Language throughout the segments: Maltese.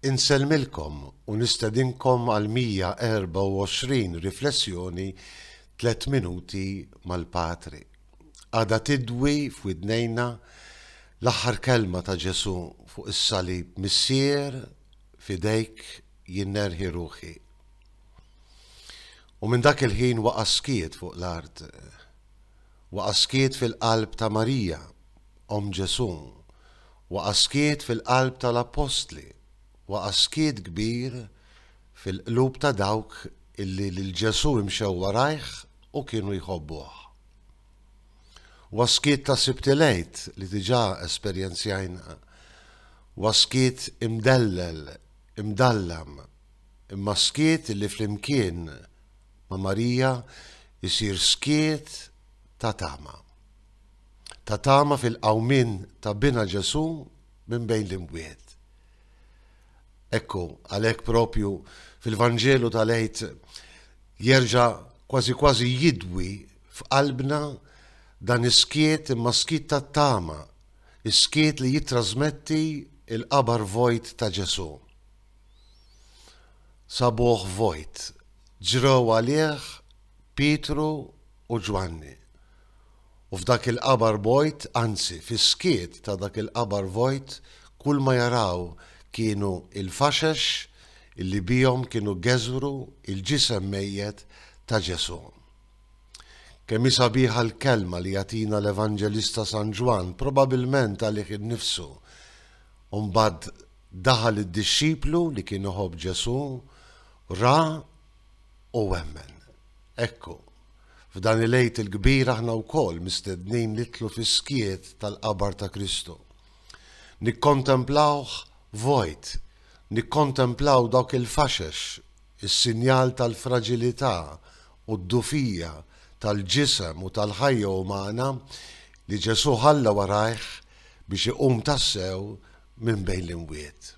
Insellmilkom u nistedinkom għal 124 riflessjoni Tliet Minuti mal-Patri. Għadha tidwi f'widnejna l-aħħar kelma ta' Ġesù fuq is-salib, Missier, f'idejk jien nerħi ruħi. U minn dak il-ħin waqa' skiet fuq l-art. Waqa' skiet fil-qalb ta' Marija, omm Ġesù, waqa' skiet fil-qalb tal-appostli, waqa' skiet kbir fil-qlub ta' dawk illi lil Ġesù imxew warajh u kienu jħobbuh. Huwa skiet ta' Sibt il-Għid li diġà esperjenzjajna, huwa skiet imdellel, imdallam, imma skiet illi flimkien, ma' Marija jsir skiet ta' tama. Ta' tama fil-qawmien ta' binha Ġesù minn bejn l-imwiet. Ekku, għalhekk propju fil-Vanġelu tal-Għid jerġa' kważi kważi jidwi f'qalbna dan is-skiet imma skiet tat-tama, is-skiet li jittrażmetti l-qabar vojt ta' Ġesù. Sabuh vojt. Ġrew għalih Pietru u Ġwanni. U f'dak il-qabar bojt, anzi, fis-skiet ta' dak il-qabar vojt, kulma jaraw kienu il-faxex li bihom kienu geżwru il-ġisem mejjet ta' Ġesù. Kemm hi sabiħa l-kelma li jagħtina l-Evanġelista San Ġwann, probabilment għalih innifsu, u mbagħad Daħal id-dixxiplu li kien iħobb Ġesù, ra, u emmen. Ekku, f'dan il-Għid il-kbir aħna wkoll mistednin nidħlu fis-skiet tal-qabar ta' Kristu. Nikkontemplawh vojt, nikkontemplaw dawk il-faxex, is-sinjal tal-fraġilità u d-dufija tal-ġisem u tal-ħajja umana li Ġesù ħalla warajh biex iqum tassew minn bejn l-imwiet,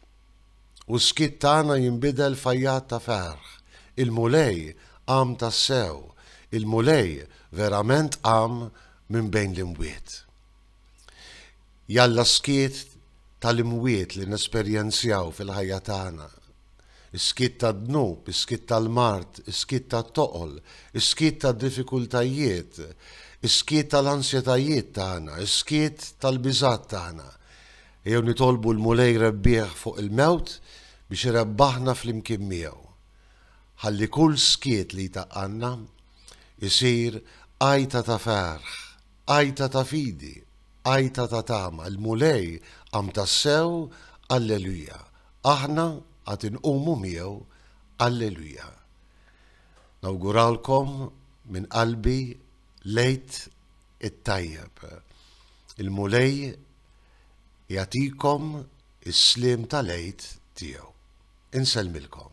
u s-skiet tagħna jinbidel f'għajjat ta' ferħ, Il-Mulej qam tassew, il-Mulej verament qam minn bejn l-imwiet. Jalla s-skiet tal-imwiet li nesperjenzjaw fil-ħajja tagħna Is-skiet tad-dnub, is-skiet tal-mard, is-skiet tat-toqol, is-skiet tad-diffikultajiet, is-skiet tal-ansjetajiet tagħna, is-skiet tal-biżgħat tagħna. Ejjew nitolbu l-Mulej rebbieħ fuq il-mewt biex irebbaħna flimkien miegħu. Ħalli kull skiet li jtaqqanna isir għajta ta' ferħ, għajta ta' fidi. Għajta ta' tama, il-Mulej qam tassew, Alleluja! Aħna għad inqumu miegħu, Alleluja! Nawgurawlkom minn qalbi l-Għid it-tajjeb. Il-Mulej jagħtikom is-sliem tal-Għid tiegħu. Insellmilkom.